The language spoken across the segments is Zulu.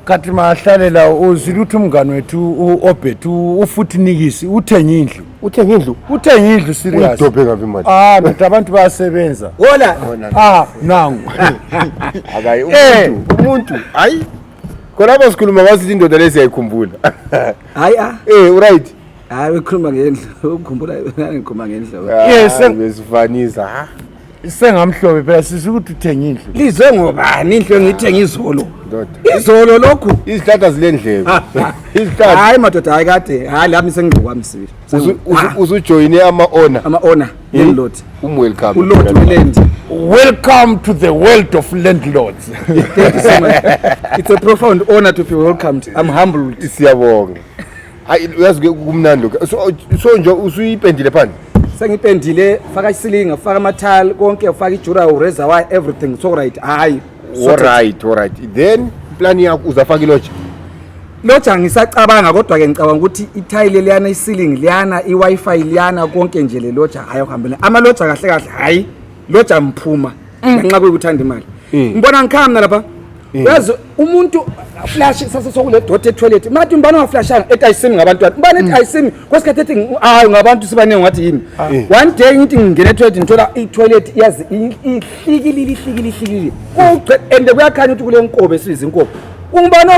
kati mahlalela uzile ukuthi umngani wethu u-obert ufuthi nikisi uthenge indlu uthenge indlu uthenge indlu seriousidobhe ngabi imali ah ndoda abantu bayasebenza wola ah nangu akayi eh. umuntu umuntu hayi khona apha sikhuluma ngasithi indoda le siyayikhumbula hayi ah eh uright hayi ukhuluma ngendlu ukhumbula ngikhuluma ngendlu ah, yes besifanisa ha ah. sengamhlobe phela sisi ukuthi uthenge indlu lizwe ngobani indlu engiyithenga izolo izolo lokhu izihlahla zile ndlebe izihlahla hayi madoda hayi kade hayi lami sengigqokwami sibili usujoyine ama-ona ama-ona landlord hmm? umwelcome ulord welend welcome to the world of landlords it's a profound honor to be welcomed i'm humbled siyabonga hayi uyazi ke kumnandi lokho so, so nje usuyipendile phandle sengipendile faka isilinga faka amathali konke faka ijura ureza why everything so right hayi alright alright then plan yakho uzafaka iloja loja ngisacabanga kodwa ke ngicabanga ukuthi ithayile liyana isilingi liyana i-wifi liyana konke nje le loja hayi okuhambela amaloja kahle kahle hayi loja mphuma mm. ngenxa kokuthanda imali mm. ngibona ngikhaya mina lapha mm. yazi umuntu flash sase sokule doti etoilet mathi umbani waflashanga ethi ayisimi ngabantwana umbani ethi ayisimi kwesikhathi ethi hayi ngabantu sibaningi wathi yini ah. one day ngithi ngingena etoilet ngithola itoilet yazi ihlikilile ihlikilile ihlikilile kuqe and kuyakhanya ukuthi kule nkobe esibiza inkobe ungubani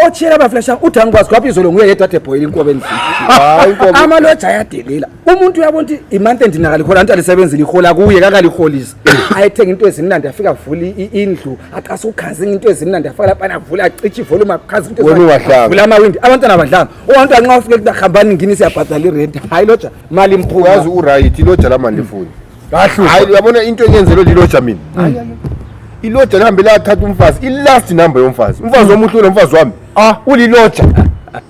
otshiyela abaflashanga uthi angikwazi kwaphi izolo nguye yedwa ade boyile inkobe endlini amaloja ayadelela umuntu uyabona ukuthi imonth end nakalihola anti alisebenzile ihola kuye kakaliholisa ayethenga into ezimnandi afika avula indlu aqasa ukhazinga into ezimnandi afaka lapha avula acithi volume akhaza into ezimnandi amawindi abantwana abadlanga uwantu anxa ufike kuthi hambani ngini siyabhadala irent hayi loja mali mphuma yazi uright loja lama ndifuni hayi uyabona into enyenzelwe liloja mina iloja lihambe lathatha umfazi ilast number yomfazi umfazi omuhle unomfazi wami ah uliloja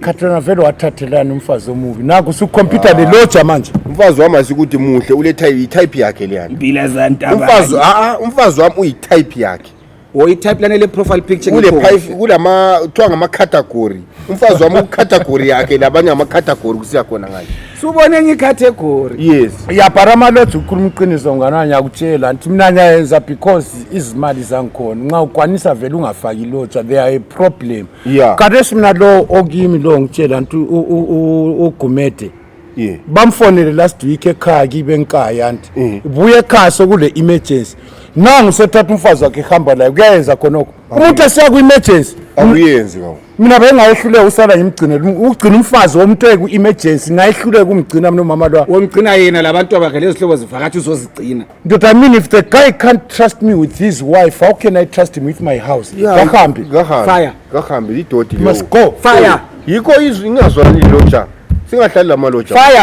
Katrina vele wathathelani umfazi omubi naku sukhompyutha leloja manje umfazi wami asikuthi muhle ule type i-type yakhe leyana Mpila zantaba. umfazi aa umfazi wami uyi-type yakhe Wo i-type lane le profile picture kule ngikho. pipe kulama kuthiwa ngama-category umfazi wami ucategory yakhe labanye ama-category kusiya khona ngale Subone ngicategory. yes yabhara amaloja ukhuluma iqiniso ngana ngiyakutshela nti mina ngiyayenza because izimali zangikhona nxa ukwanisa vele ungafaki iloja they are a problem yeah kadeshi mina lo okimi lo ngitshela nti ugumede yeah bamfonele last week ekhaya kibe nkaya nti mm. buye ekhaya sokule emergency nangu sethatha umfazi wakhe ehamba layo kuyayenza khonoko umuntu esiya ku emergency akuyenzi kawo mina bengayehluleka usala ngimgcinele um, ukugcina umfazi womuntu eku emergency ngayehluleka umgcina mina umama lwa womgcina yena labantu abakhe lezihlobo zivakathi uzozigcina Ndoda, I mean if the guy can't trust me with his wife, how can I trust him with my house? Kahambi. Fire. kahambe idodi You must go. Fire. yikho izwi ingazwani loja singahlali lamaloja Fire.